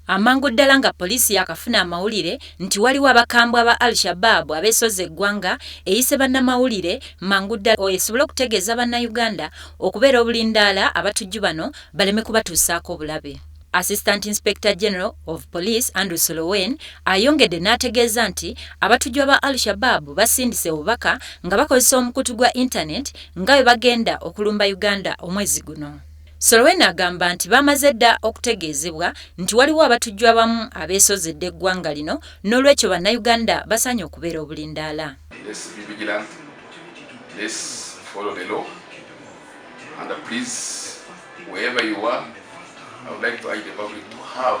Amangu ddala nga poliisi yaakafuna amawulire nti waliwo abakambwe aba Al Shabaab abeesozze eggwanga, eyise bannamawulire mangu ddala esobole okutegeeza Bannayuganda okubeera obulindaala abatujju bano baleme kubatuusaako obulabe. Assistant Inspector General of Police Andrew Solowen ayongedde n'ategeeza nti abatujju aba Al Shabaab basindise obubaka nga bakozesa omukutu gwa Internet nga bwe bagenda okulumba Uganda omwezi guno. Solowen agamba nti bamaze dda okutegeezebwa nti waliwo abatujju abamu abeesozze dda eggwanga lino n'olwekyo bannayuganda basaanye okubeera obulindaala. Let's be vigilant. Let's follow the law. And uh, please, wherever you are, I would like to urge the public to have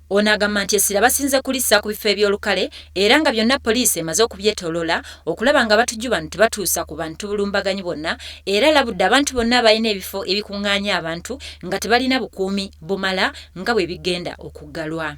Ono agamba nti essira basinze kulissa ku bifo eby'olukale era nga byonna poliisi emaze okubyetoloola okulaba nga abatujju bano tebatuusa ku bantu bulumbaganyi bwonna era alabudde abantu bonna abalina ebifo ebikungaanya abantu nga tebalina bukuumi bumala nga bwebigenda okuggalwa.